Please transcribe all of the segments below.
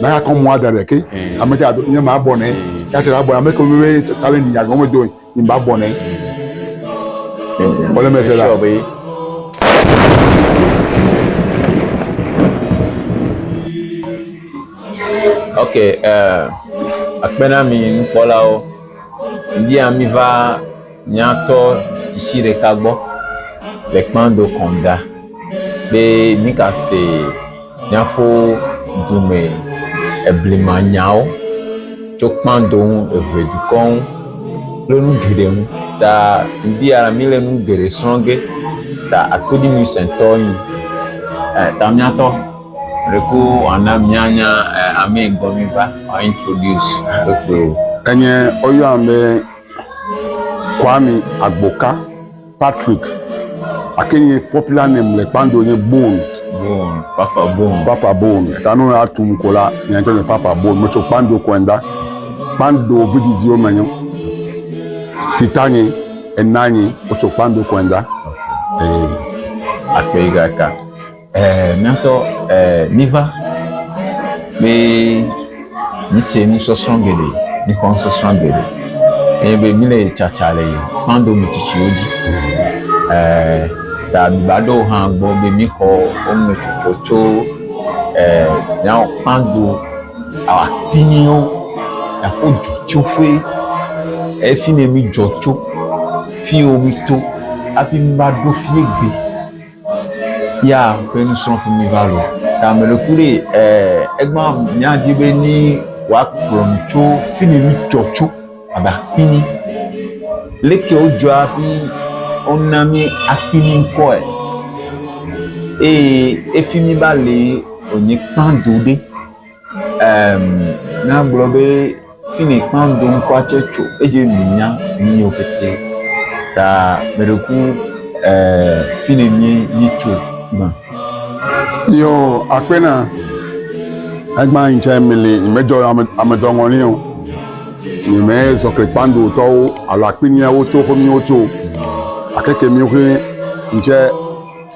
na ya kɔ mwa da ɖe ke ame tsa nye ma bɔ ne ya tsa bɔ ame ko we challenge ya gɔme do ni ba bɔ ne wala me se la ok uh, akpena mi nukpɔlawo ndi ami va Míatɔ tsitsi ɖeka gbɔ le kpando kɔnda be mika se míaƒo dume eblima nyawo tso kpando ŋu, eŋe dukɔ ŋu kple nu geɖe ŋu ta ŋdi ya la míle nu geɖe srɔ̃ ge ta akoɖimi sɛntɔ nyi eh ta míatɔ ɖeko ana míanya eh, amee gbɔ míva ɔa introduce woto. Enye woyɔam be Kwame Agboka Patrick ake nye popular name le kpando nye Bone. Bone, Papa Bone. Papa Bone. Tanu ya tum ko la, nye ŋutɔ nye Papa Bone. Metso kpando kɔenda. Kpando vididiwo me nyo. Titanye, enanye, wotso kpando kɔenda. Ee. Akpe yi gaka. Ɛɛ, míatɔ ɛɛ, míva be míse nusɔsrɔ̃ geɖe, míxɔ nusɔsrɔ̃ geɖe. Eye be míle tsatsa le kpando me tsitsiwo dzi. Ɛɛ, ta mìva ɖo hã gbɔ be míxɔ wo me tsotso tso ɛɛ, míawo kpando akpiniwo, aƒo dzotsoƒe. Eye fi yi ne mídzɔ tso, fi yi wo mito hafi míva ɖo fiyi gbe. ya ƒe nusrɔ̃ƒe mi va lɔ ta me ɖo ku ɖe ɛɛ egba miadi be ni wòakplɔ mi tso fi mi nutsɔ tso abe akpini leke wodzɔa hafi wona mi akpini ŋkɔe eye efi mi va lee wònye kpando ɖe. Eem, ne agblɔ be fi mi kpã do ŋkɔa tse tso edzi mi nya mi nyo kete ta me ɖe ku eh, fi ne mi mi tso ma. Yo, akpɛ na. Egba yin tse mi li, mi me dzɔ ame ame dɔ ŋɔni o. Mi me zɔ kle kpã do tɔwo alo akpini ya wo tso ko mi wo tso. Akeke mi wo xe yin tse.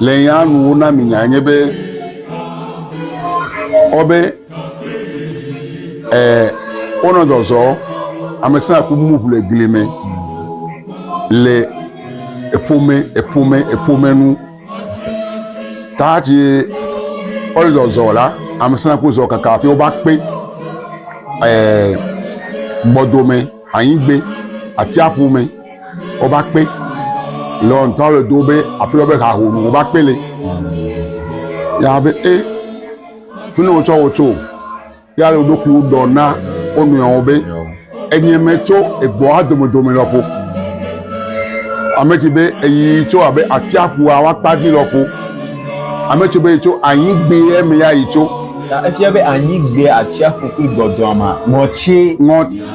Le nya nu wo na mi nya nye be ɔbe ɛ wonɔ zɔzɔ amesina ku mu ʋu le gli me le eƒome eƒome eƒome nu taatsi ɔle zɔzɔ la amesina ku zɔ kaka afi woba kpe ɛ gbɔdome anyigbe atsiaƒu me. wova kpe le ŋutɔ le do be afi wobe ha ho wova kpe le ya be e fi ne wotsɔ wo tso ya le woɖokui ɖɔ na wo nɔewo be enye me tso egbɔa domedome lɔƒo ame tsi be eyi tso abe atsiaƒua wa kpa dzi lɔƒo ame tsi be yi tso anyi gbe ye me ya yi tso. Efia be anyi gbe atsiaƒu kple gbɔdɔa ma ŋɔtsi. Ŋɔt.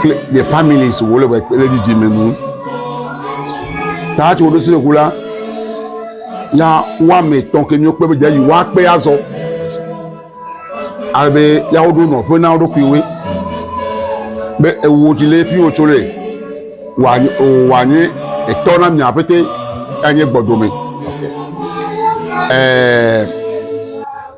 kple nye family si wole wɔ kple dzidzime nu. Ta tso ɖo sinu ku la, ya woame tɔn ke nyɔ kpe be dze yi wa kpe azɔ. Ale be ya woɖo nɔ ƒe na wo ɖokui woe. Be ewo dzi le fi wo tso le wa nye wa nye etɔ na mia pete ya nye gbɔdome. Ɛɛ. Eh,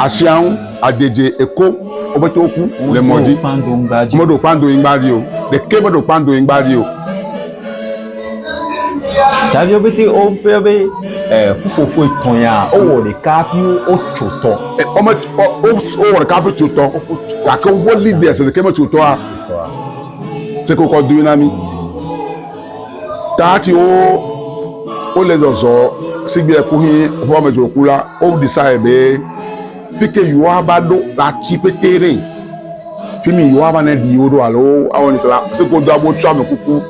Asia ŋu adedze eko wobe to ku le mɔ dzi. Meɖo kpando nyigba dzi o. Ɖeke meɖo kpando nyigba dzi o. Daviwo pete wofia be eh, ƒuƒoƒo etɔ̃ ya wowɔ ɖeka hafi wotso tɔ. Wome wowɔ ɖeka hafi tso tɔ. Gake woƒe leaders ɖeke metso tɔa. Sekokɔ dui na mi. Tati wo wo le zɔzɔ sigbe kuhi ʋua me dzroku la wo decide be pike yewo ava ɖo la tsi pete ɖe fimi yewo ava ne ɖi wo ɖo alo awɔ ne tla se ko do abo tsɔ ame kuku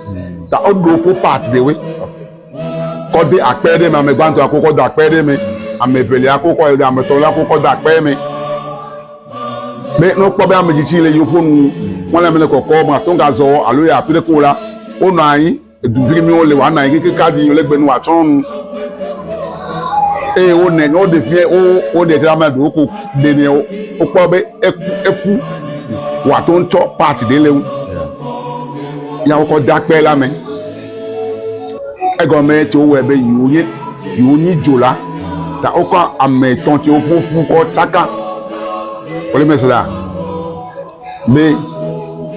ta o ɖo ko part de we kɔ de akpɛ ɖe me ame gbãtɔ ko kɔ da akpɛ ɖe me ame evelia ko kɔ ame etɔ̃lia ko kɔ da akpɛ me. be ne wokpɔ be ame tsitsi le yewo ƒo nu mɔle mele kɔkɔ mate ŋu gazɔ alo yɛ afi ɖeke o la wonɔ anyi edu vi mi wole woanɔ anyi keke kadi yi le gbe nu woatsɔ nu eye wonɛ ne woɖe fi wo woɖe tsɛ ame ɖewo ko ɖe nɛ wokpɔ be eku eku woate ŋu tsɔ part ɖe le ŋu ya wokɔ de akpe la me. Egɔme tsi wowɔe be yewo nye yewo nyi dzo la ta wokɔ ame etɔ tsiwo ƒoƒu kɔ tsaka wole me se la be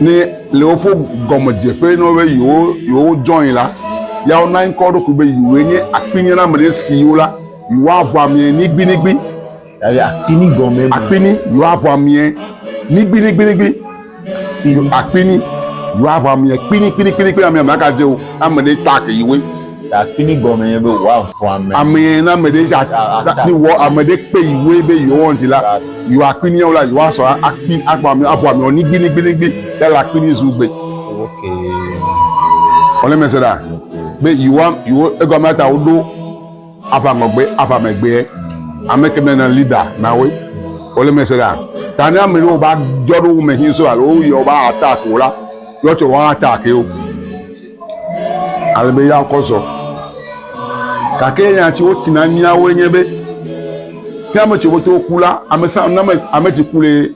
ne le woƒe gɔmedzeƒe na wo be yewo yewo join la ya wona ŋkɔ wo ɖokui be yewoe nye akpinyina me ɖe siwo la yewoaʋu amea nigbinigbi. Eye akpini gɔme me. Akpini yɔa ʋua miɛ nigbiningbinigbi. Akpini yɔa ʋua miɛ kpinikpinikpinikpini amɛ mɛ aka dze o. Ame ɖe tɔ ake yi we. Akpini gɔme nye be wɔ avua mɛ. Amɛ na ame ɖe za ni wɔ ame ɖe kpe yi we be yɔ wɔn dzi la yɔ akpini yɔ la yɔ asɔ akpi akpɔ amɛ avua mɛ nigbiningbinigbi yala akpini zu gbe. Ɔlɛ mɛ se ɖa be yi wa yi wo egɔme ata wo ɖo. Ava ŋɔgbe, ava megbeɛ. Ame ke me na leader na we. Wole me se ɖa. Ta ne ame ɖewo ba jɔ ɖo wo me hin so alo wo yɔ ba attack wo la, yɔ tsɔ wa attack yo. Ale be ya kɔ zɔ. Kake nya tsi wo tina mia wo nye be, ne ame tsi wo to ku la, ame sa, ame, ame tsi ku le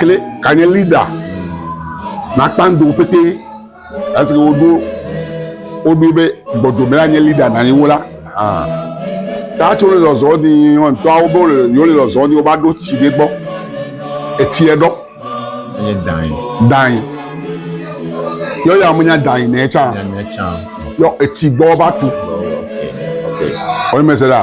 kle kanye leader nakpa ŋdo pété esi woɖo woɖoe be gbɔdome la nye leader na yewo la ah tatso le zɔzɔ di ŋtɔawo be wole yewo le zɔzɔ di woba ɖo tsi ɖe gbɔ etsiɛ ɖɔ Enye dae. dae yɔ ya menya dae nɛ tsa Nya nya tsa. yɔ etsi gbɔ va tu Ok. Ok. wɔyi mese ɖa.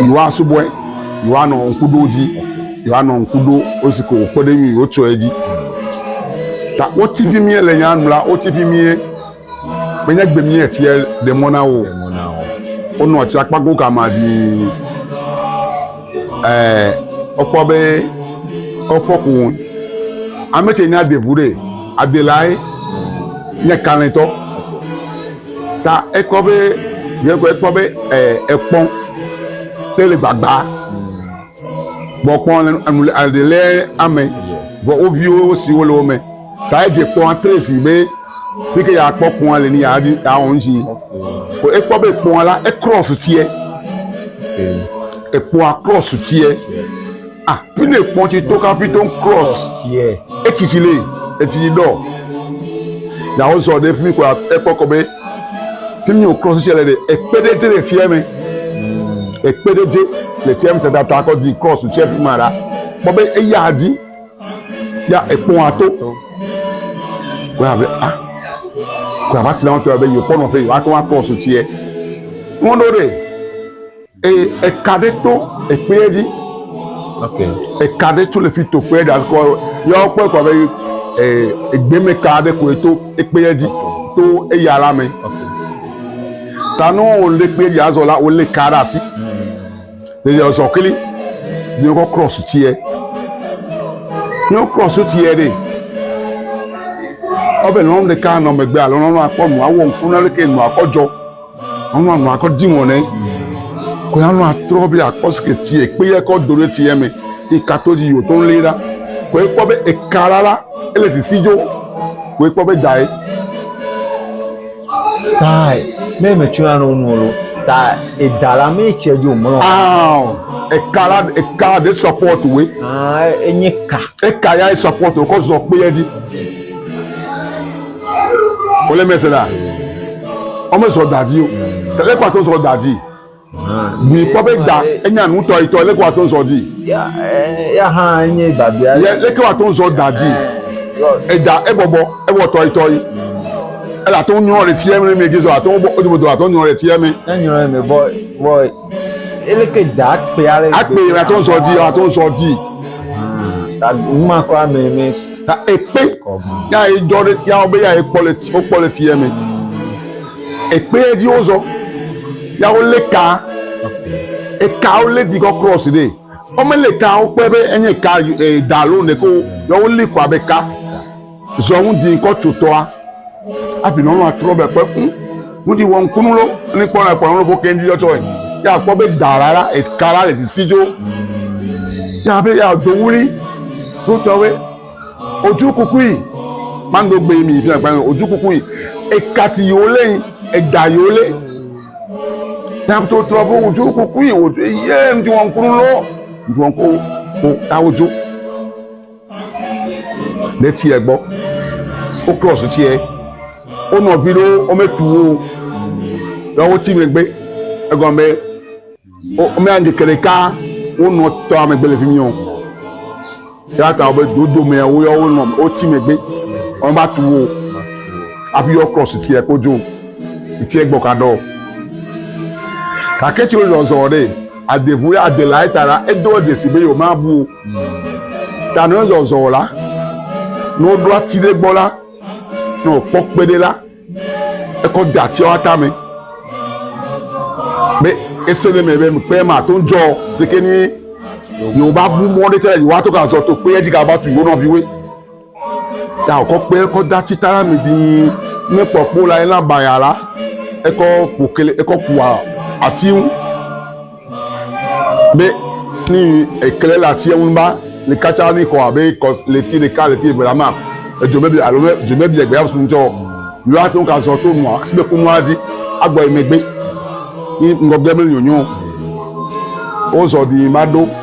Yehowa subɔe, yehowa nɔ ŋku ɖo dzi, yehowa nɔ ŋku ɖo wosi ke wòkpe ɖe mi wotsɔe dzi. Ta wotsi fi mie le nya nu la, wotsi fi mie menye gbe mie tsia ɖe mɔ na wo. Wonɔ tsi akpa go kama dii. Ɛɛ wokpɔ be wokpɔ ku wo. Ame tse nya devu ɖe adelae nye kalẽtɔ. Ta ekpɔ be yekɔ ekpɔ be ɛ ekpɔ ɖe le gbagba. Gbɔkpɔ le enu le aɖe lɛ ame. Vɔ wo viwo siwo le wo me. Ta edze kpɔa tresi be fi ke yeakpɔ kpɔa le ni yeadi yeawɔ nu si. Ko ekpɔ be kpɔa la ekrɔsu tiɛ. Ekpɔa krɔsu tiɛ. Ah, pine kpɔn ti to Capitol Cross. Yeah. Etsi tsi le, etsi tsi dɔ. Yawo zɔ ɖe fi mi ko ekpɔ kɔ be fi mi o cross tsi le ɖe ekpe ɖe dze le tsia me. Ekpe ɖe dze le tsia me tata ta kɔ di cross tsi fi ma ɖa. Kpɔ be eya dzi ya ekpɔn ato. Ko ya be ah ko ya va tsi na wo tɔ ya be yewo kpɔ nɔƒe yewo ato wa cross tsia. Mɔɖo ɖe. Eye eka ɖe to ekpeɛ dzi. Okay. Eka ɖe to le fi to kpeɛ ɖe kɔ yɔ kpɔe kɔ be eh, egbeme ka ɖe koe to ekpeɛ dzi to eya la me. Ta ne wòle kpeɛ dzi azɔ la wòle ka ɖe asi. Ne yɔ zɔ kli ne wokɔ krɔs tsiɛ. Ne wo krɔs tsiɛ ɖe ɔbɛ lɔn ɖeka nɔ megbe alo lɔn akpɔ nu awɔ ŋku na leke nu akɔ dzɔ. Ɔnɔ anɔ akɔ di ŋɔ nɛ. Kɔe anɔ atrɔ be akpɔ si ke ti ekpe yɛ kɔ do ɖe ti yɛ me. Yi kato dzi yio to lé ɖa. Kɔe kpɔ be eka ɖa la ele sisi dzo. Kɔe kpɔ be dae. Tae me me tso na no nu lo. Ta eda la me tse dzo mlɔ. Aw eka la eka de support we. Ah enye ka. Eka ya support ko zɔ kpe yɛ dzi. wòle mese la ɔme sɔ da dzi o tɛlɛ kó ato sɔ da dzi bui kpɔ be da enya nu tɔ itɔ lɛ kó ato sɔ dzi ya hã enye babia yɛ lɛ kó ato sɔ da dzi eda ebɔbɔ ewɔ tɔ itɔ yi ele ato nyɔ le tiɛ mi mi gizɔ ato bɔ o dobo do ato nyɔ le tiɛ mi ne nyɔ le mi vɔ vɔ eleke da akpe ale akpe le ato nsɔ di ato nsɔ di numa kɔ ame me ta ekpe ya edzɔ ɖe ya be ya ekpɔ le ti wokpɔ le ti ya me ekpe dzi wozɔ ya wolé ka eka wolé di kɔ cross ɖe wɔmele ka wokpɔe be enye ka e, da alo ne ko ya wolé kɔ abe ka. Zɔ ŋu di ŋkɔ tso tɔa. Afi nɔ nɔa trɔ bɛ kpe ŋu. Ŋu di wɔ ŋkunu lo. Ni kpɔ nɔ kpɔ nɔ bo kendi yɔ tsɔe. Ya kpɔ be da la la eka la le sisi jo. Ya be ya do wuli. Lo tɔ we. Oju kukui. Man do gbe mi fi na kpɛ. Oju kukui. Eka ti yo le. Eda yo le. Ya to trɔ bo oju kukui. Oju ye ŋu di wɔ ŋkunu lo. Ŋu di wɔ ŋkunu. Ko ta oju. ɖe tiɛ gbɔ wo cross tiɛ wo nɔvi ɖewo wometu wo o ya woti megbe egɔme be wo womea ŋkeke ɖeka wonɔ tɔa megbe le fi mi o eya ta wobe dodo mea wo ya wonɔ woti megbe womeva tu wo o hafi yɔ cross tiɛ kpo dzo tiɛ gbɔ kaɖɔ gake tsi wozɔzɔ ɖe. Adevu ya Adelaide ta la, edoa dzesi be yewomabu o. Ta ne zɔzɔ la, ne woɖo ati ɖe gbɔ la, ne wòkpɔ kpe ɖe la, ekɔ de atiawo tame be ese ɖe me be kpe mate ŋu dzɔ si ke ni yewobabu mɔ ɖe tsɛ le yewoato gazɔ to kpea dzi gava tu yewo nɔviwoe. Taokɔkpɛ kɔ da tsi tara mi di ne kpɔ kpo la ena baya la ekɔ kpo kele ekɔ kua ati ŋu be ni ekele le ati ŋu ba le katsa ni xɔ abe kɔ le ti ɖeka le ti eve la ma edzo bebe alo me dzo bebe egbe asu ŋutɔ yɔ ato ka zɔ to nua si be ko nua di agbɔ emegbe ni ŋgɔgbe me nyonyo wozɔ di ma ɖo.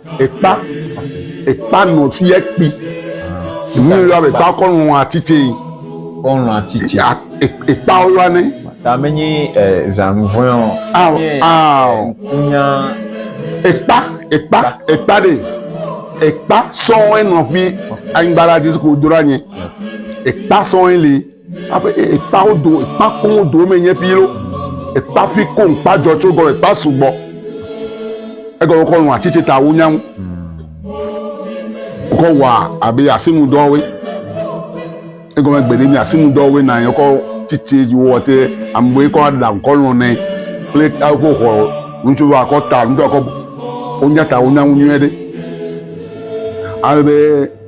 ekpa ekpa nɔ fi yɛ kpi nu yɔ be ekpa kɔ nɔ atitse yi kɔnɔ atitse ya ekpa wo yɔ ne. tame nyi zanuvɔe o. awo awo nya ekpa ekpa ekpa de ekpa sɔwɔe nɔ fi anyigba la dzi si ko do la nye ekpa sɔwɔe li. Aƒe ekpawo do ekpa koŋ do me nye ƒi lo. Ekpa fi koŋ kpa dzɔ tso gɔme ekpa sugbɔ. Egɔme kɔ nɔ atsi ta wo nyaŋu. Wokɔ wɔ abe asinu dɔwoe. Egɔme gbe ɖe mi asinu dɔwoe na yekɔ tsitsi wo wɔ te amewo kɔ aɖa kɔ lɔ nɛ kple aƒe xɔ ŋutsu wa kɔ ta ŋutsu wa kɔ wo nya ta wo nyaŋu nyuie ɖe. Ale be.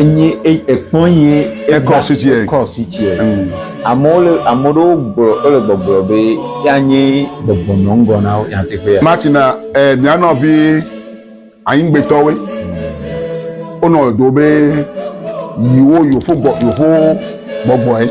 enyi ekpɔ ye ekɔ sitiɛ ekɔ sitiɛ amewo le ame ɖewo gblɔ wole gbɔgblɔ be yanye gbɔgbɔ nɔ ŋgɔ na wo nyateƒe ya matina ɛ mia nɔvi anyigbetɔwe wonɔ do be yiwo yofo gbɔ yofo gbɔgbɔe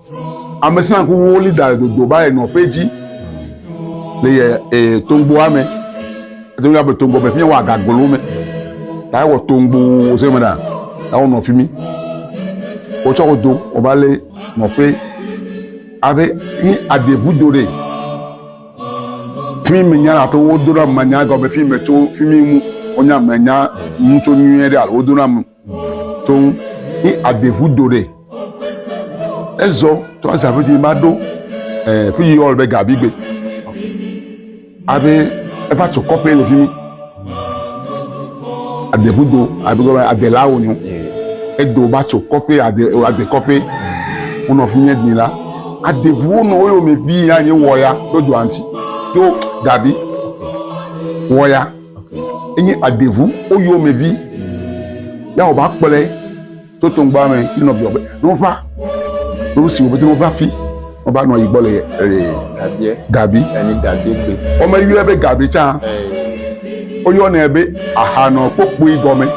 Amesã kuwo li da dodo ba enɔ ƒe dzi le yɛ e tongboa me. Eto mi abe tongbo me fi wa gagolo me. Ta wɔ tongbo se me da. Ta wɔ nɔ fi mi. Wo tsɔ do o ba le nɔ ƒe abe ni adevu do de. Fi mi nya la to wo do na manya gɔme fi me tso fi mi mu. Onya manya mu tso nyuie de alo do na mu. Tsoŋ i adeŋu do ɖe. Ezɔ tɔ aza ƒe dzi ma ɖo ɛ ƒe yi ɔl be gabi gbe. Abe eva tso kɔƒe le fi mi. Adeŋu do abe gɔme adela wo nyo. Edo ba tso kɔƒe ade ade kɔƒe. Wonɔ fi nye dzi la. Adeŋu wonɔ wo yome ʋi ya nye wɔ ya do dzoa ŋuti. Do gabi wɔ ya. enye adeŋu woyɔmevi ya wòva kplɔe to toŋgba me ne nɔviawo be ne wova ne wosi wo be ne wova fi wova nɔ yi gbɔ le ee gabi womeyɔe be gabi tsã woyɔnɛ be ahanɔ kpokpui gɔme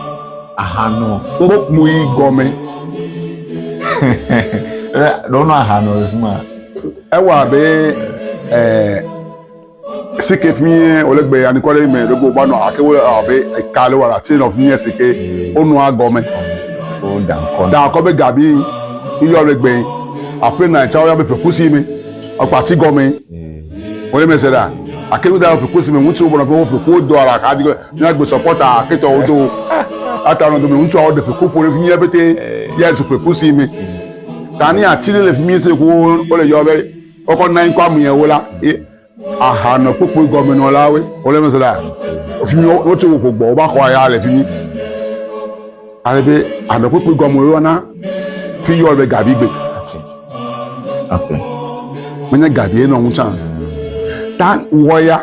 ahanɔ kpokpui gɔme ɖɔnɔ ahanɔ le fi ma ewa be ɛɛ. si ke fie wòle gbe anikɔ ɖe eme ɖe gbogbo anɔ ake wole abe eka le wala tse nɔ fie si ke wonɔa gɔme da akɔ be gabi yɔ le gbe afi na tsa woyɔ be fekusi me ɔkpati gɔme wòle mese ɖa ake nu da fekusi me ŋutsu bɔnɔ fɔ feku do ala ka di ne agbe sɔpɔta ake tɔ wodo ata nɔ dome ŋutsu awo de feku ƒo ɖe fi mie bete yɛ zu fekusi me tani ati le fi mie se ko wole yɔ be Wokɔ nɔ anyi kɔ amu yẹn wo la ye aha nɔ kpokpo gɔme nɔ la we wo le mese la fi mi wo tso wo gbɔ wo ba xɔ ya le fi mi ale be anɔ kpokpo gɔme wo na fi yɔ le gabi gbe menye gabi ye nɔ ŋutsa ta wɔ ya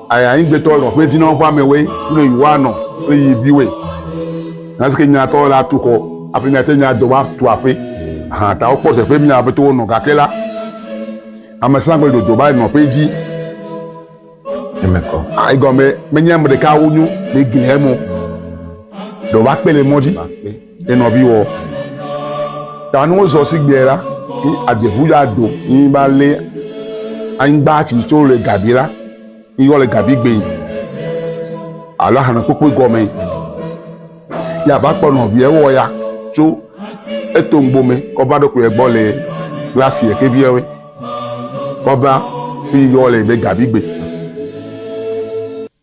Aya ŋgbetɔ lɔ ƒe dzinɔ ƒe amɛwoe kudo yi wa nɔ kple yi viwoe. Nasike nyatɔ la tu xɔ aƒe mia te nya dɔ wa tu aƒe ahan ta wokpɔ teƒe mia ƒe towo nɔ gake la ame sã gbe dodo ba nɔ ƒe dzi. Emekɔ. A egɔme menye ame ɖeka wo nyo le gli hemo. Dɔ wa kpe le mɔ dzi. Ye nɔvi wɔ ta ni wozɔ si gbea la yi adeʋu ya do yi ba lé anyigba tsi tso le gabi la yi yɔ le gabi gbe alo ahana kpokpo gɔme ya ba kpɔ nɔvia wɔ ya tso eto ŋgbome kɔ va ɖo kuyɛ gbɔ le glasi yɛ ke viɛ wɛ kɔ va yi yɔ le be gabi gbe.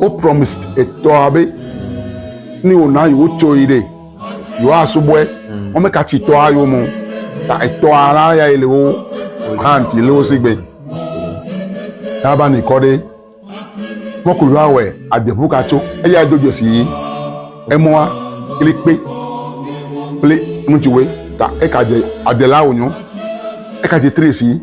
Wo promise etɔa be ni wòna yi wotso yi ɖe yewoasubɔe. Wɔme ka tsi tɔa yo mo ta etɔa la ya yi le wo hand yi le wo sigbe. Ya ba ni kɔ ɖe mɔku yɔa wɛ adeƒu ka tso eya do dzesi yi emɔa kple kpe kple ŋutsuwe ta eka dze adela wonyo eka dze tresi.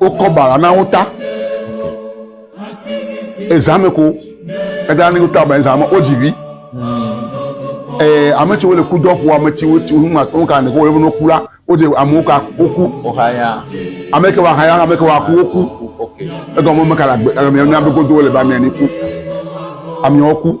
wokɔ bala na wo ta ezame ko eda ne wota ba ezame wodzi vi ee ame tsiwo le kudɔ ƒo ame tsiwo tsiwo nu ma tɔn kan ne ko wole no ku la wodze amewo ka woku Ohaya. ame ke wa haya ame ke wa ku woku Okay. egɔme me ka la gbe ame na be godo le ba mia ni ku amewo ku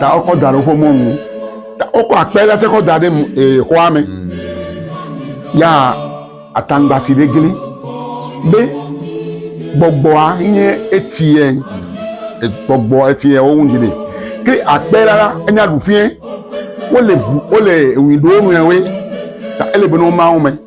ta wokɔ da ɖe woƒe mɔnu ta wokɔ akpe la tse kɔ da ɖe ee xɔa me ya ataŋgbasi ɖe gli be gbɔgbɔa nye etie gbɔgbɔ etie wo ŋu ɖe ke akpe la la enya ɖuƒee wole ʋu wole ewui ɖe wo nɔewoe ta ele be ne woma wo me.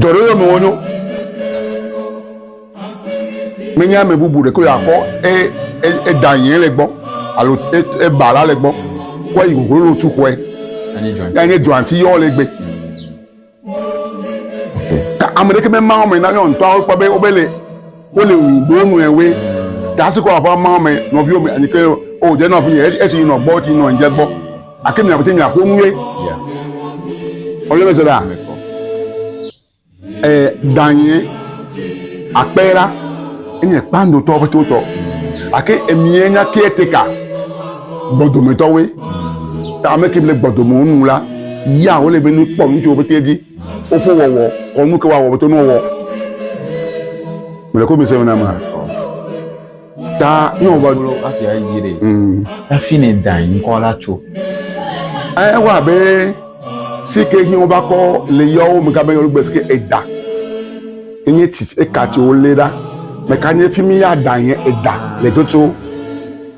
Dɔɖeɖe me wonyo. Menye ame bubu ɖeko yeakpɔ eda e, e yɛn le gbɔ alo eba e, la le gbɔ kɔ yi goglo lo tu xɔe. Yanye dɔanti yɔ le gbe. Ka ame ɖeke mema wɔme na yɔ ŋutɔ wokpɔ be wobele. Wole ŋu ɖo nɔewe. Gasi kɔ aƒe ma me nɔviwo me anyi ke o dze nɔ afi esi nɔ gbɔ ti nɔ dze gbɔ. Ake mi aƒete mi aƒo nu ye. Ɔyɔ me se da. Eh danye akpera enye kpando tɔ aƒete tɔ. Ake emie nya ke teka gbɔdome tɔwe. Ta ame ke le gbɔdome onu la ya wole be ni kpɔ nu tso aƒete di. Fofo wɔwɔ kɔ nu ke wa wɔwɔ to nu wɔwɔ. Mele ko mi se na ma. Ta ni wɔwɔ. Bolo afi ayi dzi de. Mm. Afi ne dan ŋkɔ la tso. Eh wa be si ke hin ba ko le yo me ka be yo gbe si ke eda. Enye ti e ka ti o le da. Me ka nye fi mi ya dan ye eda le toto.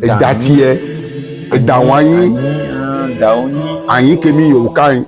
Eda ti e eda wa yin. Da o yin. Ayin ke mi yo kai.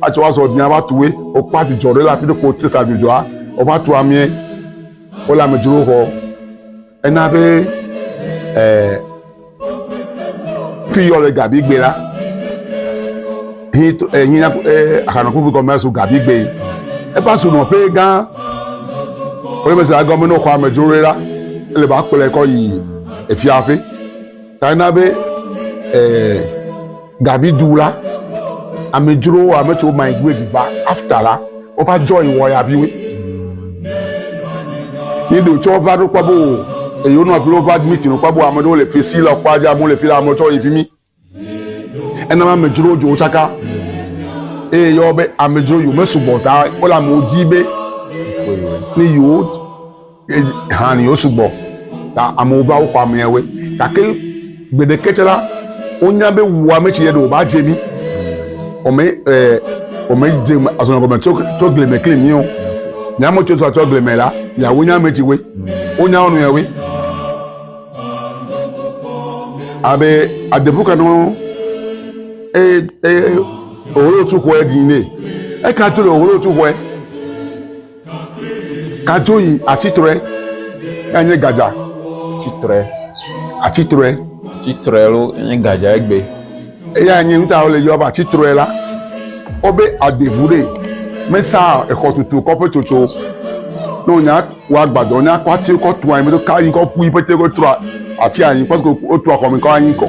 atsɔ wa zɔ dia va tuwe wokpɔ adzudzɔ ɖe le afi ɖe ko wote sa adzudzɔa wova tu amee wole amedzro xɔ ena be ɛɛ fi yɔ le gabigbe la hi ɛhinya ɛɛ ahanɔkuku gɔmɛ so gabigbe eƒe asunɔƒe gã wòle mese agɔme ne xɔ amedzro ɖe la ele ba kplɔe kɔ yi efiaƒe. Ta na be eh, Davidu la, amedzrowo, ame tso migrate va after la, wova join wɔyaviwo. Ni ɖo tsɔ va ɖo kpɔ bo eyo nɔ kple wova admit nɔ kpɔ bo ame ɖewo le fi si le kpɔ adze amewo le fi la ame tsɔ yi fi mi. Ena ma amedzrowo dzo tsaka. Eye yɔ be amedzro yo mesugbɔ ta wole amewo di be ni yewo han yewo sugbɔ ta amewo va woxɔ ameawoe gake gbeɖeke tsɛ la wonya be wu ame tsi yɛ ɖe wòva dze mí wòme ɛɛ wòme dze azɔnɔ gɔme tso tso gli me kli mí o nye ame tso tso gli me la miawo nye ame tsiwoe wonya wo nɔewoe abe adebu kanɔ eye eye owolotu xɔe dzi ne eka tu le owolotu xɔe. Kadzo yi atsitrɔe, eya nye gadza. Tsitrɔe. Atsitrɔe. Tsitrɔe lo nye gadza egbe. Eya nye nuta wole yɔ ba tsitrɔe la. Wobe adevu ɖe mesa exɔtutu kɔƒe tsotso. Ne wonya wɔ agbadɔ, nya kɔ ati kɔ tu anyi, meɖo ka anyi kɔ ƒu yi pete kɔ trɔ ati anyi, pɔsiko wotu axɔme kɔ anyi kɔ.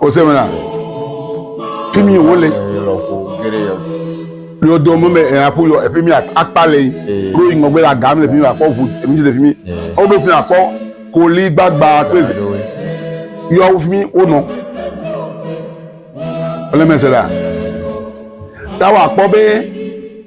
Ose me la, fi mi wole. Yɔ do mo me aƒu yɔ efi mi akpa le yi. Kuro yi ŋgɔgbe la gam le fi mi akɔ ʋu emi ti le fi mi. Wo be fi mi akɔ koli gbagba kple zi. Yɔ wo fi mi wo nɔ. Wole me se la. Ta wa kpɔ be.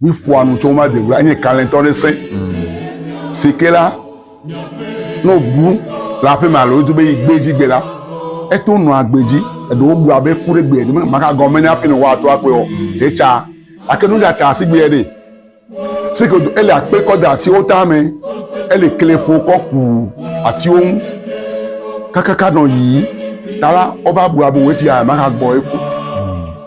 Mi ƒoa nu tsɔ ma de wla nye kalẽtɔ ɖe se. Mm. Sike la, no bu la ƒe ma lo dube yi gbedzi gbe la. Eto no agbedzi, edo wo bua be ku ɖe gbe di me, ma ka gɔme ne afi no wa to akwe o. Te cha, ake nu da cha si gbe de. Sike do ele akpe kɔ da si o ta me, ele kle fo kɔ ku ati o. Kakaka no yi, tala oba bua bo wetia ma ka gbo eku.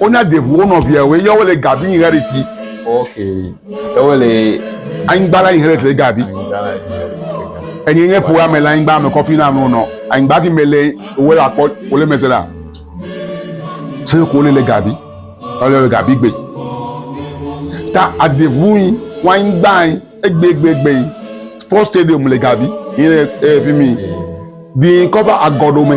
Wonya de ʋu wo nɔvia wo yɔ wole gabi yin hɛri ti. Ok. Ewo le. Anyigba la yin hɛri tle gabi. Enye nye fo ame le anyigba ame kɔfi na ame nɔ. Anyigba ki me le wo la kɔ wo le meze la. Se ko le le gabi. Ele le gabi gbe. Ta adevu yin wa anyigba yin egbe egbe egbe yin. Sport stadium le gabi. Yin e fi mi. Di kɔfa agɔdo me.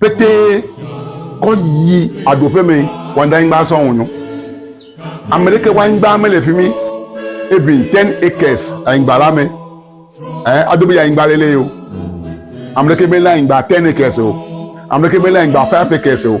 pété kɔ yi aɖoƒe me wanda nyigba sɔ ŋunyo ame ɖeke wa nyigba mele fi mi even ten acres anyigba la me ɛ ado be anyigba lele o ame ɖeke mele anyigba ten acres o ame ɖeke mele anyigba five acres o.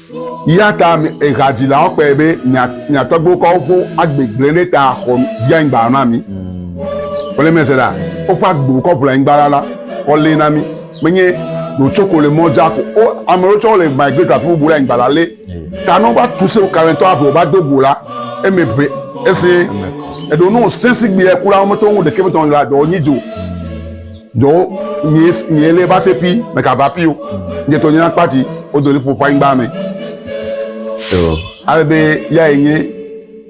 Eya ta mi hadzilawo kpɔe be mia tɔgbuiwo kɔ woƒe agbe gblẽ ɖe ta xɔ dzi anyigba na mi. Wole mese ɖa, woƒe agbewo kɔ ʋu le anyigba la kɔ lé na mi. Menye ɖo tsoko le mɔ dza ko o. Ame ɖewo tsɛ wole migrate afi bubu le anyigba la lé. Ta ne wova tu se kalẽtɔ ave wova do go la, eme ʋe ese. Eɖo ne wosẽ sigbee ku la, womete ŋu ɖeke ƒe dɔmedzoe la dɔ nyi dzi o. Dɔwo nyee nyee lé va se pi me ka va pi o. Nye to nyina kpati o do lipo pa ingba me. Yo. Ale be ya ye nye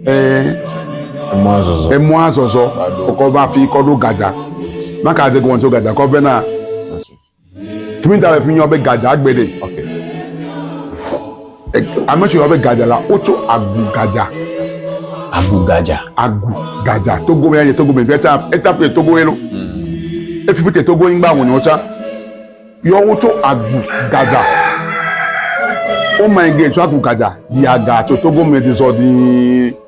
eh emɔa zɔzɔ. Emɔa zɔzɔ kɔ va fi kɔ ɖo gadza. Maka de gɔntso gadza kɔ ve na. Tumi ta le fi nyɔ be gadza gbe de. Okay. Ame si wɔe be gadza la, wotso agu gadza. Agu gadza. Agu gadza. Togo me ya ye Togo me via tsa etsa pe Togo ye lo. Hmm. Efi pe Togo ingba wonye wotsa. Yɔ wotso agu gadza. Wo ma ege tso agu gadza. Yaga tso Togo me di zɔ dii.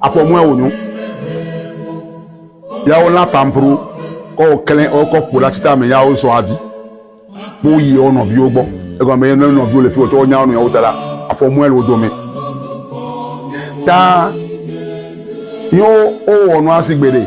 Afɔ mɔa wò nyo. Ya wo la pampro kɔ wo klẽ wo kɔ ƒo la tita me ya wo sɔ adi. Kpo yi wo nɔviwo gbɔ. Egɔ me ne nɔviwo le fi wo tsɔ nya nu ya wo ta la afɔ mɔa le wo do me. Ta yo o wɔ nu asi gbe de.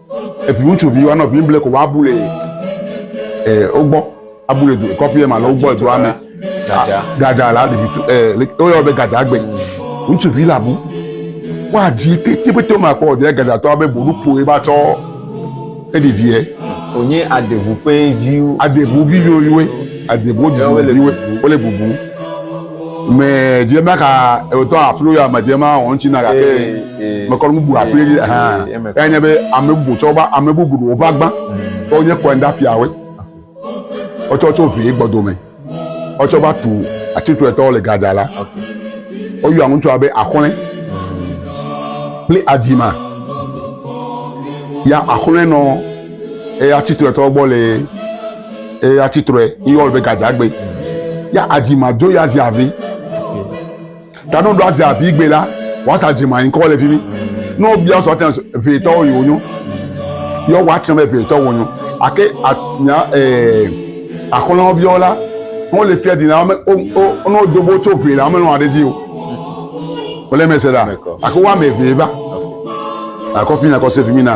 Eviŋutsuvi woanɔ Biblia ko woabu le ɛ wogbɔ abu le kɔƒea me alo wogbɔ le dua me. Gadza la ɖevi ɛ woyɔ be gadzagbe. Ŋutsuvi la bu. Woadzi petepete ma kpɔ ɖe gadzatɔ be boɖu poe ba tsɔ eɖeviɛ. Wònye adeŋu ƒe viwo. Adeŋu viviwo yiwoe. Adeŋu dzidzi viwoe. Wole bubu. me dze ma ka ewotɔ aflo ya me dze ma wɔn tsi na gake me kɔ nubu afli dzi hã ya nye be ame bubu tsɔ ba ame bubu do ba gba tɔ nye kɔn da fia we ɔtsɔ tsɔ vi gbɔdo me ɔtsɔ ba tu atsitu etɔ le gadza la ɔyɔ ŋutsu abe axɔlɛ kple adzima ya axɔlɛ nɔ eya atsitu etɔ gbɔ le. eye atsi trɔe yɔ be gadzagbe ya adzi ma dzo ya zi avi tanu do azi avi gbe la wasa dzi ma ŋkɔ le fi mi ne wobia sɔ tɛn vetɔwo yi wonyo yɔ woatsɛ be vetɔwo wonyo ake nya ɛɛ axɔlɔwo biawo la wọn le fia dina wọn wọn wọn dobo tso ʋe la wọn lɔn aɖe dzi o wọn lé mɛsɛ la àkó wọn amɛ ʋe va àkó fi na àkó se fi mi na.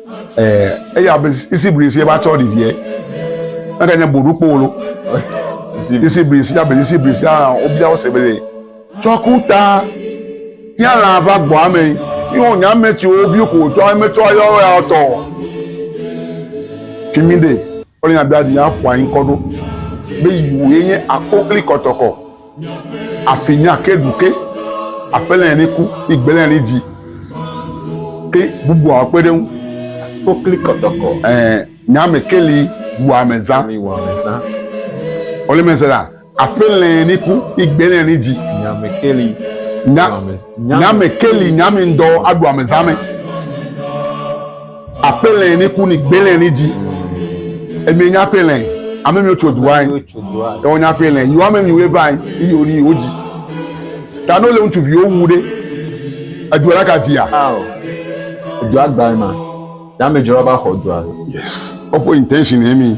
eya be isi bri si ba tsɔ ɖi vie eke nye boɖu kpowolo isi bri si abe isi bri si a wobia wo se be le tsɔ ku ta ya la va gbɔ ame yi wo nya ame ti wo bi ko tsɔ ame tsɔ yɔ ya tɔ fimi de wole nya bia di ya ƒo anyi kɔ ɖo be yi wo ye nye akokli kɔtɔkɔ. Afi nya ke ɖu ke aƒelɛ ni ku ni gbelɛ ni dzi ke bubu a kpe ɖe ŋu. Kokli kɔtɔkɔ. Ɛɛ nya me ke li wu ame zã. Li wu ame zã. Ole me se la aƒelɛ ni ku ni gbelɛ ni dzi. Nya me ke li. Nya nya me ke li nya mi ŋdɔ aɖu ame zã me. Aƒelɛ ni ku ni gbelɛ ni dzi. Emi nya aƒelɛ. Ame mi tso dua yi. Ewo nya aƒelɛ. Yi ame mi we va yi. Yi oni yi oji. Ta no le ŋutsu vi owu ɖe. Edu la ka dia. Edu agba ma. Ya me jora ba xɔ dua. Yes. Opo intention emi.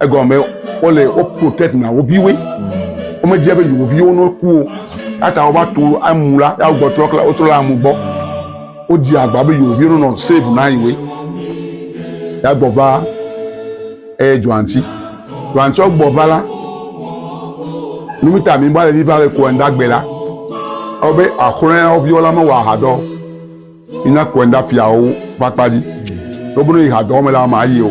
Egɔme wole wo protect na wo viwoe. Womedzia be yewo viwo no ku o. Ata wova to amu la ya wogbɔ trɔ kla wotrɔ le amu gbɔ. Wodzi agba be yewo viwo nonɔ save na yewoe. Ya gbɔ va eye dzɔantsi. Dzɔantsi gbɔ va la numita mi ba le vi va le ko enda gbe la. Awo be axɔlɔ̃ ya wo viwo la mewɔ aha dɔ. Ina ko enda fiawo va kpa dzi. Wobono yi ha dɔ me la ma yi o.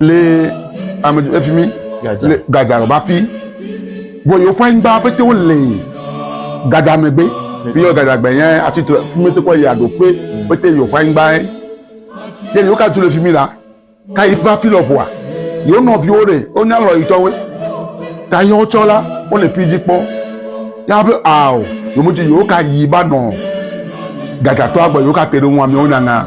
le ame efi mi le gadza lɔ ba fi vɔ yewo ƒe anyigba pete wo le gadza megbe fi yɔ gadza gbɛ yɛ ati to fi mi te kɔ yi aɖo kpe pete yewo ƒe anyigba yɛ yɛ yewo ka tu le fi mi la ka yi fa fi lɔ ƒoa yewo nɔviwo ɖe wo nya lɔ yi tɔwe ta yɛ wotsɔ la wo le fi dzi kpɔ ya be ao yewo dzi yewo ka yi ba nɔ gadzatɔa gbɔ yewo ka te ɖe wo ŋu amewo nyanya.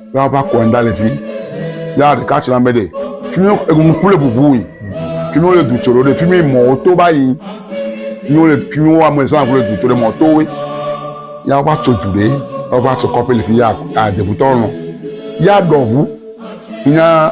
ya va kɔ ŋda le fi ya ɖeka tsra me ɖe fi mi eŋu kple bubu yi fi mi wole du tso ɖe fi mi mɔwo to ba yi fi mi wole fi mi wo ame zan kple du tso ɖe mɔ to we ya va tso du ɖe ya va tso kɔƒe le fi ya adebutɔ nɔ ya ɖɔ ŋu nya.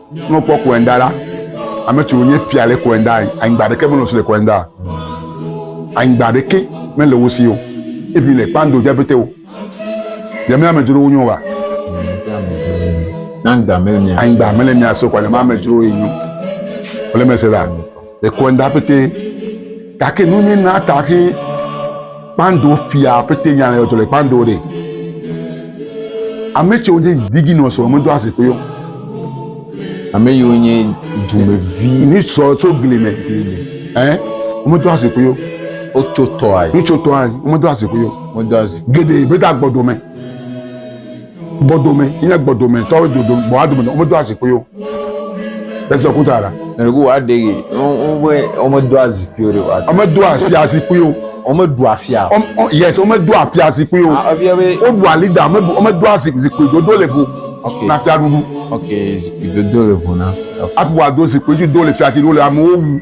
Ne wokpɔ Koenda la, ame tso nye fia le Koenda, anyigba ɖeke mele si le Koenda. Anyigba ɖeke mele wo si o. Ebi le kpando dze pete o. Yemi ame dzro wonyo wa. Anyigba mele mia so kwa, yemi ame dzro enyo. Wole mese la. Ekɔnda pete. Gake nu ni na ta xe kpando fia pete nya le to le kpando de. Ame tso de digi no so me do ase ko yo. Ame yo nye du me vi ni so to gli me. Eh? Me do ase ko yo. O tso to ai. Ni tso to ai. Me do ase ko yo. Me do ase. Gede beta gbodo me. Gbɔdome nye gbɔdometɔwo dodo gbɔa dome nɔ womedoa zikpui o. Esi ɔku ta la. Nɔnɔku wa de ye. Wome womedoa zikpui o de wa. Womedoa fia zikpui o. Womedoa fia. Yes, womedoa fia zikpui o. Ah, wodoa lida, womedoa zikpui dodo le vo. Okay. Na fia ɖuɖu. Okay, zikpui dodo le vo na. Aƒua do zikpui dodo le fia ti do le amewo wu.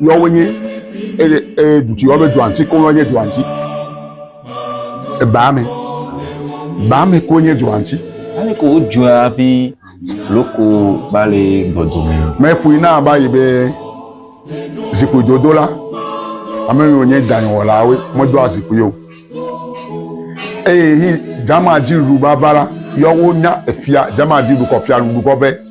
Yɔwo nye eye eye dutsi yɔwo be dɔansi ko yɔ nye dɔansi. Ebame. Bame ko nye dɔansi. Ani ko wodzɔa abe loko ba le gbɔdome. Mɛƒui na ba yi be zikpui dodo la. Ame yiwo nye danyɔwɔlawoe medoa zikpui o. Eye hi dzamadiɖu vava la yɔwo nya efia dzamadiɖu kɔ fia ɖuɖu kɔ be.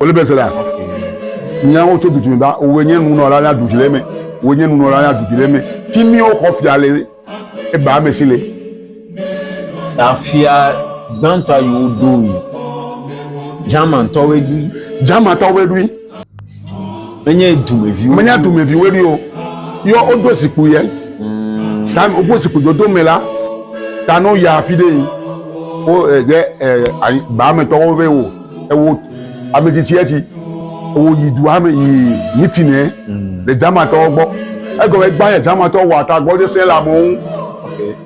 Wòle be Zera, nyawo tso dudu me ba, wòe nye nunɔla na dudu le me, wòe nye nunɔla na dudu le me, fi mi woxɔ fia le eba ame si le. Ta fia gbãtɔa yi woɖo yi, Germantɔwoe ɖui. Germantɔwoe ɖui. Menye dumeviwo. Menye dumeviwo ɖi o. Yɔ woɖo zikpui yɛ. Ta woƒe zikpui dodo me la, ta no ya afi ɖe yi. Wo ɛdze eh, ɛ eh, ba me tɔwo be wo ewo eh, ame tsitsi etsi. Wo yi dua me yi meeting yɛ mm. le German tɔwo gbɔ. Egɔme gba yɛ German tɔwo wɔ ata gbɔ sese le amewo ŋu.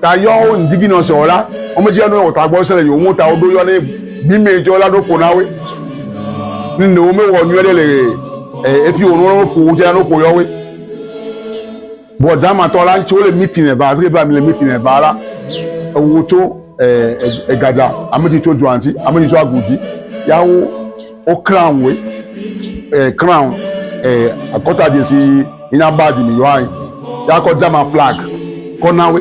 Ta yɔ wo indignation la, wo me dzi yɔ ne wɔ ta gbɔ sese le yewo ŋu ta woɖo yɔ ne Bimɛ jɔ la ɖo ko na we. Nne wo me wɔ nyuɛ ɖe le efi wo nɔnɔ ko wo jɛ no ko yɔ we. Bɔ jama tɔ la ŋtsi wo le mitin eva asike bla mi le mitin eva la. Ewo tso egadza ame tsi tso dua ŋtsi ame tsi tso agu dzi ya wo wo crown we crown akɔta dzesi yi na badge mi yɔ anyi ya kɔ jama flag kɔ na we.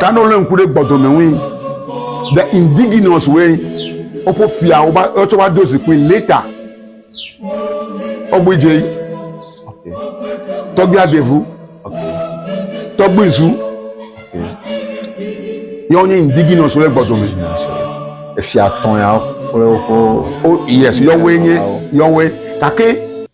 Kana wole ŋku ɖe gbɔdome ŋui. The indigenous way woƒe fia woba wotsɔ va do zikpui later ɔgbui dze tɔgbui adevu tɔgbui zu yɔwo nye indigenous wole gbɔdome. Efia tɔn ya kple woƒe. Oh yes yɔwoe nye yɔwoe gake.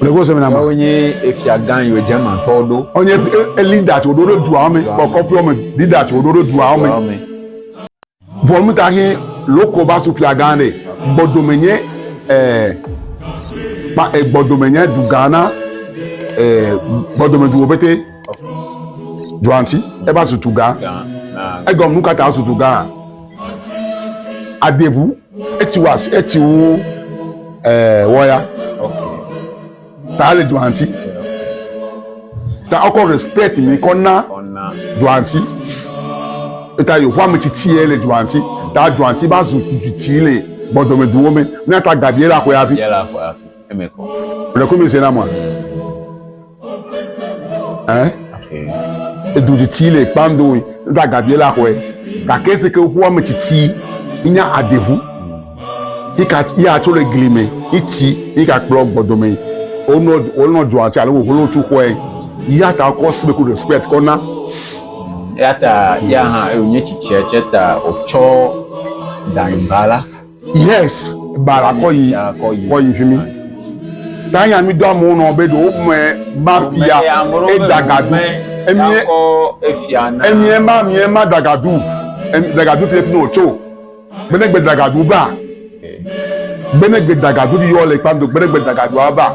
Ɖeko sɛmina ma. Wonye efia gã yiwo dze ma tɔ ɖo. Wonye elida tso ɖo ɖo dua me, kɔkɔƒe me, lida tso ɖo ɖo dua me. Vɔnu ta he loko va su fia gã ɖe. Gbɔdome nye ɛɛ kpa egbɔdome nye du gã na ɛɛ gbɔdome duwo pete. Duansi eva su tu gã. Egɔm nu kata su tu gã. Adevu. etsi wɔ asi etsi wu ɛɛ eh, wɔya ta le dua ŋuti ta wokɔ respect mi kɔ na dua ŋuti eta yehowa ame tsitsi yɛ le dua ŋuti ta dua ŋuti va zu tsitsi le gbɔdɔmeduwo me ne ta gabi yɛ le axɔya vi. eme kɔ. Wòle komi se na mɔ. Ɛ. Edu tsitsi le kpando yi. Nta gabi la xɔɛ. Gake si ke ƒua me tsitsi nya adevu. Ika ya tso le gli me. Itsi ika kplɔ gbɔdome yi. Wonɔ wonɔ dua tsi alo wo holo tu xɔɛ. Ya ta kɔ sibe ku respect kɔ na. Ya ta ya hã ewonye tsitsi tsɛ ta otsɔ danyimba la. Yes, ba la kɔ yi kɔ yi fi mi. Tanya mi do amewo nɔ be ɖewo mɛ ma fia e dagadu. Emi emi ema mi ema dagadu. Emi dagadu fi no tso. Bene gbe dagadu ba. Bene gbe dagadu di yɔ le kpando bene gbe dagadu aba.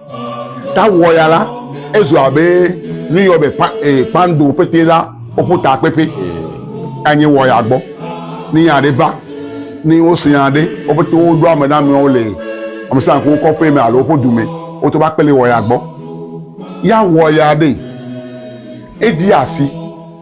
Ta wɔ ya la, ezu abe nu yɔ be pa, e, pando pete la woƒo ta kpekpe. Anyi wɔ ya gbɔ. Ni ya ɖe va, ni wo se ya ɖe, wo pete wo ɖo ame na mewo le ame sa ko kɔ fe me alo woƒe du me, wo to va kpele wɔ ya gbɔ. Ya wɔ ya ɖe, e di asi.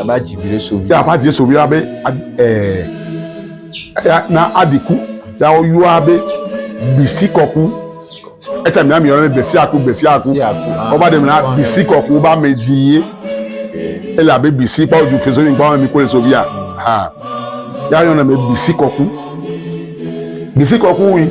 A b'a dzi viɖe so vi. Ya b'a dzi so vi abe ɛɛ eya na aɖi ku ya wo yɔ abe bisi kɔku. Etsa mi ami yɔ ne bisi aku bisi aku. Wo ba ɖe mi na bisi kɔku ba me dzi ye. Ele abe bisi kpa oju feso ni kpa mi ko le so via. Ha. Ya yɔ ne me bisi kɔku. Bisi kɔku wi.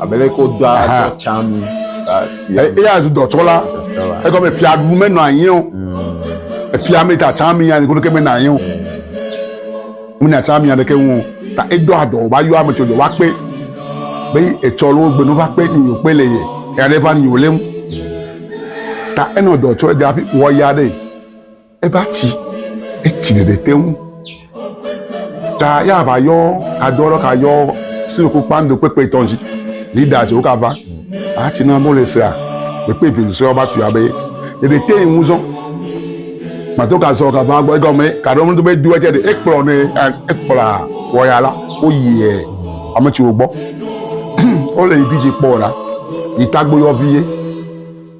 Abe ɖe ko dɔa dɔ tsam. Eya zu dɔtsɔla. Egɔme fia nu menɔ anyi o. Efia me ta tsam ya ne koɖo ke menɔ anyi o. Menɔ tsam ya ɖeke ŋu o. Ta edɔ adɔ va yɔ ame tso dɔ va kpe. Be etsɔ lo gbe no va kpe ni yo kpe le ye. Ya ɖe va ni yo le ŋu. Ta enɔ dɔ tsɔ dza fi wɔ ya ɖe. Eva tsi, etsi ɖeɖe te ŋu. Ta ya va yɔ adɔ lɔ ka yɔ sinu ko kpando kpekpe tɔn ji. Lida tsi wo ka va. A tsi na mole sea. Kpekpe vi sɔ ya ba tu ya be. Ɖeɖe te yi ŋu zɔ. Mato ka zɔ ka va gbɔ egɔ me ka ɖo mdo be do etsi ɖe ekplɔ ne ekplɔ wɔ ya la wo yi e ame tsi wo gbɔ. Ole yi bi tsi kpɔ la. Yi tagbo yɔ vi ye.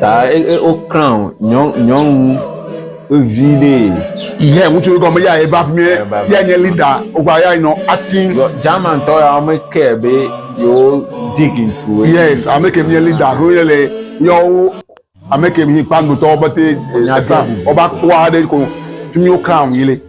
Ta woklã nyɔnu vevi ɖee. Ihe ŋutsu gɔme ya eva fi mi ya nye leader wogba ya nɔ acting. German tɔ ya wɔme ke be yewo dig into. Yes, ame ke nye leader ko ye le yewo ame ke mi kpando tɔ bete esa ɔba kpɔa ɖe ko fi mi woklã yi le.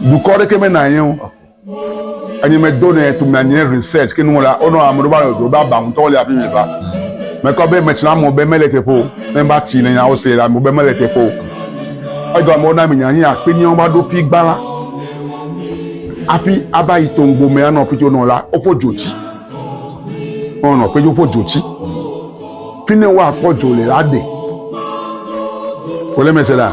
dukɔ ɖeke me na yɛn o enyi me do ne to mia nye research ke nu la ono ame do ba do ba ba ŋutɔ le afi me ba me kɔ be me tsina mo be mele te po ne ba ti ne nya o se la mo be mele te po edo amo na mi nya ni akpe ni on ba do fi gbala afi aba yi to ngbo me ano fi to no la o fo joti ono pe jo fo joti fi ne wa ko jo le la de o le me se la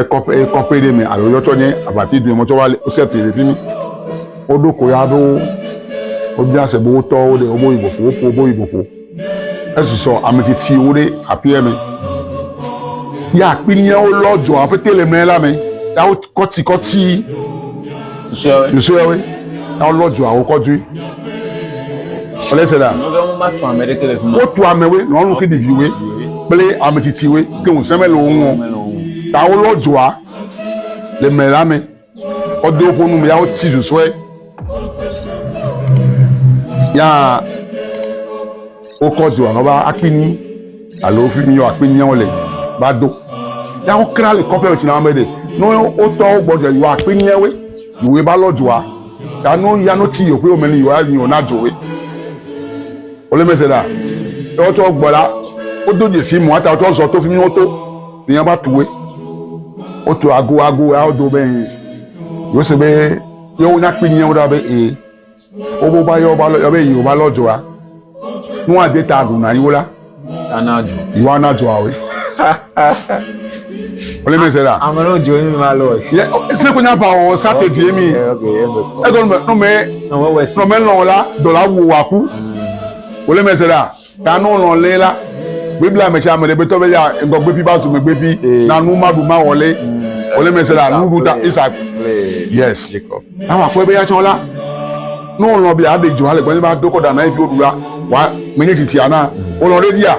Ekɔƒe ekɔƒe ɖe me alo yɔtsɔ nye aʋati dome tsɔ va le wosɛtri le fi mi. Woɖo koya aɖewo wobia se be wotɔwo ɖe wobe yi vovo woƒo wobe yi vovo. Esusɔ ame tsitsiwo ɖe aƒea me. Ya akpi miawo lɔ dzɔa ƒete le mɛ la me ya wokɔtsikɔtsi. Susueawe. Na wolɔ dzuawo kɔ dui. Wòle se la. Wotu amewe, nyɔnu kple ɖeviwe kple ame tsitsiwe ke ŋusẽ mele wo ŋu o. Ta wolɔ dua le mɛ la me. Wodo woƒe nu me ya woti susue. Ya. Wokɔ dua nɔ va akpini alo fi mi yɔ akpiniawo le va do. Ya wokra le kɔƒe me tsina me ɖe. No wotɔ wo gbɔ dua yɔ akpiniawe yòwe va lɔ dua. Ya no ya no tsi yòƒe me ni yòwa ni yòna dzowe. Wole mese ɖa. Ya wotsɔ gbɔ la wodo dzesi mɔ ata wotsɔ zɔ to fi mi woto. Ni ya va tuwe. Wotu ago ago ya wodo be yose be yewo nya akpiniawo ɖa be ee. Wobo ba yɔ ba lɔ yɔ be yi ba lɔ joa. Nu wa de ta gu na yiwo la. Ana jo. Yiwo ana joa we. Ole me se da. Ame no jo mi ma lɔ. Ye se ko nya ba o sa te di mi. E ko no me no me no me lɔ la do la wo wa ku. Ole me se da. Ta no lɔn lé la, Biblia me tsɛ be tɔ be ya ŋdɔ gbefi ba zu me gbefi na nu ma ɖu ma wɔ lé. Wòle me se la, nu ɖu ta Isak. Yes. Awa akpɔe be ya tsɔ la, no lɔn be ya ɖe dzo ale gbɔnye ba do kɔ da na efi woɖu la, wa menye titi ana. Wòlɔn ɖe dia.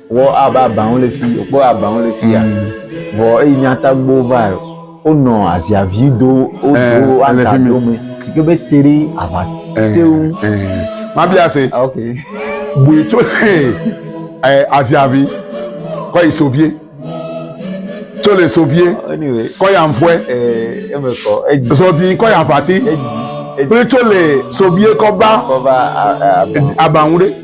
Vɔ abe abawo le fi, wokpɔ abawo le fi ya. Vɔ eyi mía tagbo va wonɔ aziavi do wodo eh, aga do me si ke be te ɖe ava eh, te ŋu. Eh, Mabia se. Ah, ok. Bui tso le aziavi kɔ yi sobie tso le sobie kɔ ya nfɔe zɔbi kɔ ya vati kple tso le sobie kɔ ba abanwu ɖe.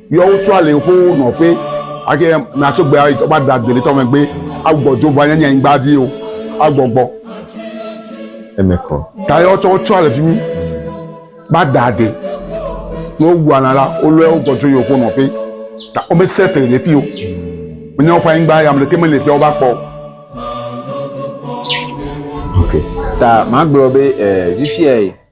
Yɔ wo tso ali xoxo nɔƒe, ake natso gbe ayi tɔba da deli tɔme gbe agbɔ dzo va nyanya nyigba dzi o agbɔgbɔ. Eme kɔ. Ta yɔ tsɔ tsɔ le fi mi ba da de ne wowu ana la wolɔe wogbɔ dzo yɔ xoxo nɔƒe ta wome sɛtre le fi o. Menye woƒe anyigba ya me ɖeke mele fi a wova kpɔ. Ok ta magblɔ be eh, fifia ye.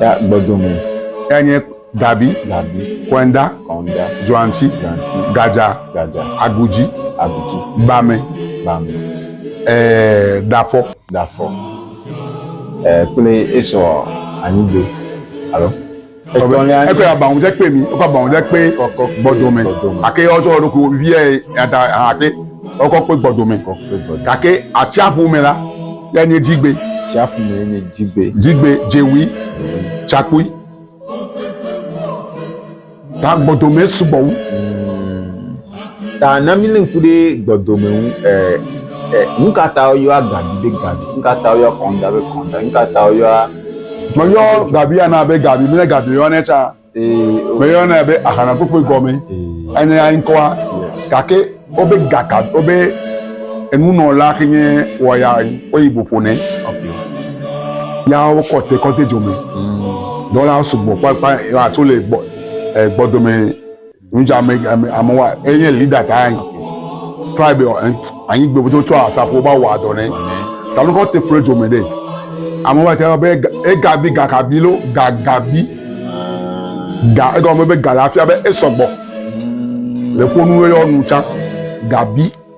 Ya gbɔdome. Ya nye Dabi. Dabi. Kɔnda. Kɔnda. Joanti. Joanti. Gadza. Gadza. Agudzi. Agudzi. Bame. Bame. Ɛɛ Dafɔ. Dafɔ. Ɛɛ kple esɔ anyigbe. Alo. Etɔlia. Ekɔ ya bangu dze kpe mi. Ekɔ bangu dze kpe gbɔdome. Ake yɔ tsɔ ɖoko viɛ yada hã ake. Ekɔ kpe gbɔdome. Gake atsiaƒu me la. Ya nye dzigbe. Tsiaƒu mee nye dzigbe. Dzigbe dzewui tsakpui. Ta gbɔdome sugbɔ wu. Hmm. Ta na mi le ŋku ɖe gbɔdome ŋu. Eh, eh, nu ka ta woyɔa gabi be gabi? Nu ka ta woyɔa kɔnda be kɔnda? Nu ka ta woyɔa. Meyɔ gabia na be gabi, menye gabi yɔnɛ tsã. meyɔnɛ be ahanakpokpoe gɔme enye ya ŋkɔa gake wobe gaka wobe enunɔla ke nye wɔya woyi boƒo nɛ ya wokɔ te kɔ de dzo me dɔwɔla sugbɔ kpakpa ya tso le gbɔ gbɔdome Ŋdza ame ame ame wa enye leader ta anyi. Tribe wa anyi gbe bodo tsɔ asafo ba wa do ne. Ta lu ko te pre jo me de. Ame wa ta be e gabi gakabi lo gagabi. Ga e go me be ga la fia be e sɔgbɔ. Le ko nu yo nu cha gabi.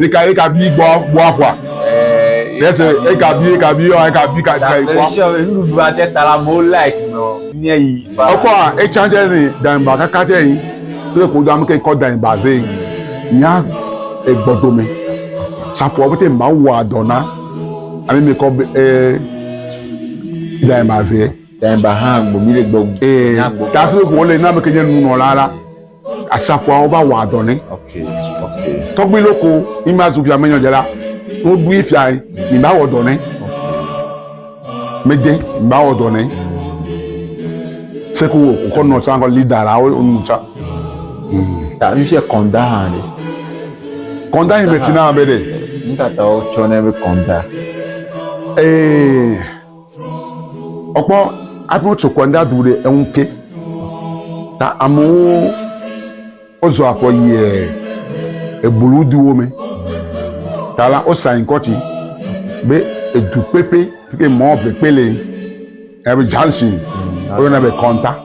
Eka eka bi gbɔ gbɔ afɔa. Yese eka bi eka bi yɔ eka bi ka ka ikɔ. Nuɖuɖu atsɛ ta la mo like nɔ nye yi. Ekɔ etsa tsɛ ni danyigba kaka tsɛ yi. Se ko do amke kɔ danyigba ze yi. Nya egbɔdome. Sapɔ bete mawu wɔ adɔna. Ami mi kɔ be e danyigba ze. Danyigba hã gbomi le gbɔ. Ee. Tasebe ko le na me ke nye nunɔla la. asafoawo va wɔa dɔ nɛ tɔgbi loko mi ma zu fia menyɔ dze la wo ɖui fia yi mi ma wɔ dɔ nɛ mede mi ma wɔ dɔ nɛ seko wo kɔ nɔ tsa kɔ lida la wo nu tsa. ta mi se kɔnda hã de. kɔnda yi mɛ tina bɛ de. n tata wo tsɔ ne bɛ kɔnda. ee. Ọkpɔ aƒe wotso kɔ nda du ɖe eŋu ke. Ta amewo wozɔ akɔ yie eblu duwo me. Ta la wosa inkɔti be edukpeƒe ke mɔ vekpele ebe junction woyɔna be kɔnta.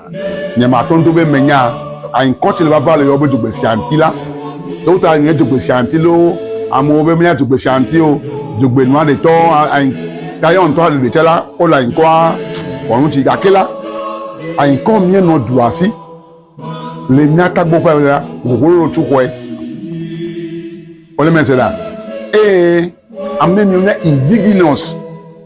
Nyematɔn do be menya anyikɔ ci le vava le yɔ be dzogbesea ŋuti la. Ɖewo ta nye dzogbesea ŋuti loo, amewo be menya dzogbesea ŋuti o. Dzogbe nua ɖe tɔ anyi ta yɔ ŋutɔ ɖe ɖe la wo le anyikɔa wɔnu ci gake la anyikɔ mie nɔ du asi le mia tagbo ƒe la wòwolo tsu xɔe. Wole mese la. Ee, ame mi nye indigenous.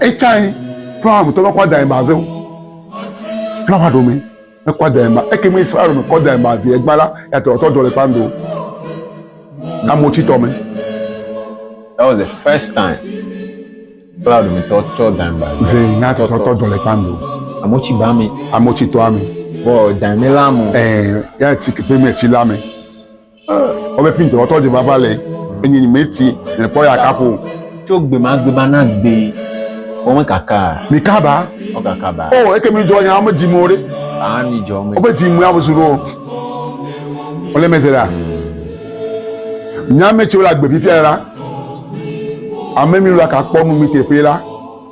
etsãe flawa ŋutɔ mekɔ da ba zewo flawa ɖome mekɔ da ba eke me israel me kɔ da ba zi egba la yàtɔ ɔtɔ dɔ le kpando amotitɔ me. that was the first time flawa ɖome tɔ tsɔ da ba zi yàtɔ ɔtɔ dɔ le kpando amotsi ba mi amotsi tɔ ami bɔ da mi la mo ɛɛ yàtsi kepe mi etsi la mi. Ɔbɛ fi ŋtɔ ɔtɔ djema va le enyi nyi me ti le kpɔ ya kapo. Tso gbema gbema na gbe wo me kaka. Mi ka ba. Wo kaka ba. Oh eke mi djɔ nya ɔme dji mo re. Ah mi djɔ ɔme. Ɔbɛ dji mo ya busu ro. Ɔlɛ mɛ se la. Nya me tsi wo la gbe fi fia la. Ame mi la ka kpɔ nu mi te fe la.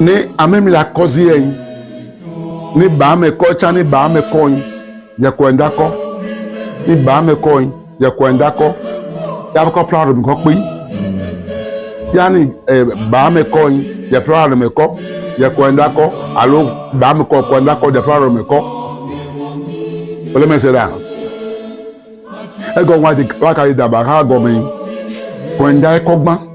ne ame mi la kɔzi yɛ yin ne ba me kɔ tsa ne ba me kɔ yin yɛkɔ yin da kɔ ne ba me kɔ yin yɛkɔ yin da kɔ yaba kɔ fla mi kɔ kpe yanni ɛ ba me kɔ yin yɛ fla mi kɔ yɛkɔ yin da kɔ alo ba me kɔ kɔ yin da kɔ yɛ fla mi kɔ wòle mɛ se ɖa egɔ wa ti wa ka yi daba ha gɔme yin kɔ yin da kɔ gbã.